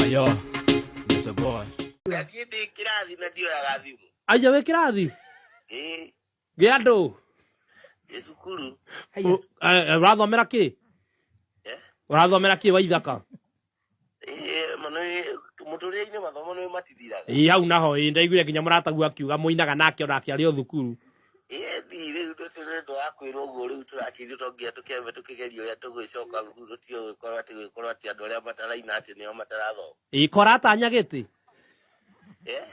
Ayo, there's a boy. Ngathiĩ ndĩ kĩrathi na ndioyaga thimũ. Aja wĩ kĩrathi? Eh. Gĩa andũ? Ndĩ cukuru. Ũrathomera kĩ? Eh? Ũrathomera kĩ wa ithaka? Eh, mano mũtũrĩre-inĩ mathomo nĩ matithiraga. Ĩ hau naho ĩ ndaiguire nginya mũratagu akiuga mũinaga nake ona akĩarĩ o thukuru. Ĩthi rĩu ndũtĩ nĩ ũndũ wa kwĩrwo ũguo rĩu tũrakĩithu tonginya tũkĩambe tũkĩgeria ũrĩa tũgwĩcoka thukuru ti ũgĩkorwo atĩ gwĩkorwo atĩ andũ arĩa mataraina atĩ nĩo matarathoma. Ĩĩ kora atanya gĩtĩ. Eh?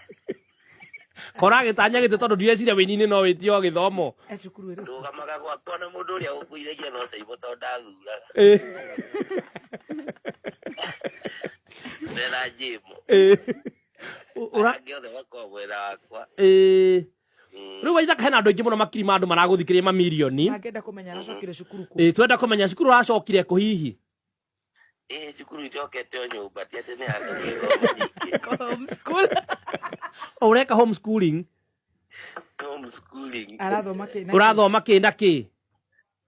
Kora agĩtanya gĩtĩ tondũ ndireciria wĩini-inĩ no wĩtio gĩthomo. E cukuru ĩrĩkũ? Ndũgamaga gwakwa na mũndũ ũrĩa ũkũithagia no caimbo tondũ ndathuraga. Ĩĩ. Ndera njĩmbo. Ĩĩ. Ũ- Ũra... Angĩ othe makoragwo mwena wakwa. Ĩĩ. rä u waithaka hena andå aingä må no makiri ma andå maragå thikä rä mamirioni angenda kå menya aracokire cukuru kå Ĩ, twenda kå menya cukuru aracokire kå hihi ĩ cukuru icokete o nyũmba ti atĩ nĩ handũ gwĩthoma ningĩ O ũreka homeschooling homeschooling arathoma kä å rathoma kä na kä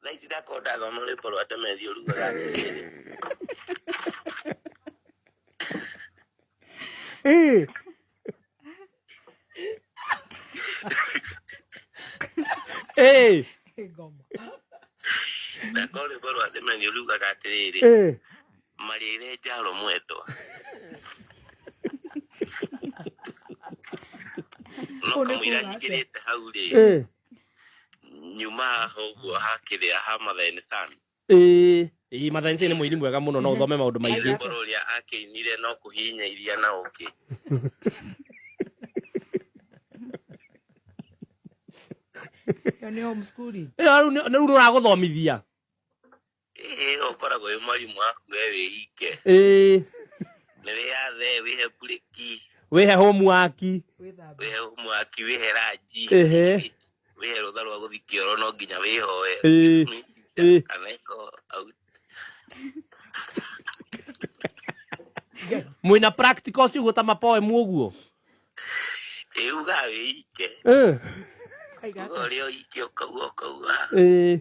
na ici ndakorwo ndathoma nĩ korwo ate methi ũrugaga atĩrĩrĩ Eh, eh, ndakorwo nĩ korwo ate methi ũrugaga atĩrĩrĩ eh. marĩre njaro mwendwa no Ũũ nĩ kamũira kuuga atĩa? njingĩrĩte hau rĩ Eh, nyuma haha ũguo hakĩrĩa ha Mathai Sun ĩĩ ii mathensi nĩ mũini mwega mũno no ũthome maũndũ maingĩ Mũkũrũ ũrĩa akĩinire no kũhinya iria na ũkĩ Ĩyo nĩ homeschooling. Ĩyo rĩu nĩ- rĩu nĩ ũragũthomithia Ĩĩ, ũkoragwo wĩ mwarimũ waku we wĩike ĩĩ nĩ wĩyathe wĩhe mburĩki wĩhe homuwaki wĩhe mwaki wĩhe ranji Ehe. wĩhe rũtha rwa gũthi kĩoro no nginya wĩhoe Ĩĩ. Ĩĩ. kana iko au mwĩna practical ũcio ũguo ta mapoemu ũguo ĩugaga wĩike Ĩĩ. uga ũrĩa ũike ũkauga ũkauga Ĩĩ.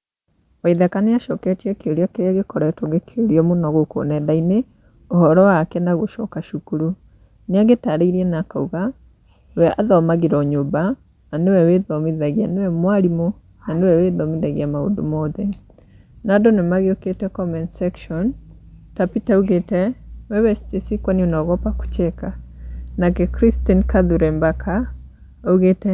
Waithaka nĩ acoketie kĩũria kĩrĩa gĩkoretwo gĩkĩũrio mũno gũkũ nenda-inĩ, ũhoro wake na gũcoka cukuru. Nĩ agĩtaarĩirie na akauga, we athomagĩra o nyũmba, na nĩwe wĩthomithagia, nĩwe mwarimũ, na nĩwe wĩthomithagia maũndũ mothe. No andũ nĩ magĩũkĩte comment section, ta Peter augĩte, wewe Stacy kwani unaogopa kucheka? Nake Christine Kadhure Mbaka, augĩte.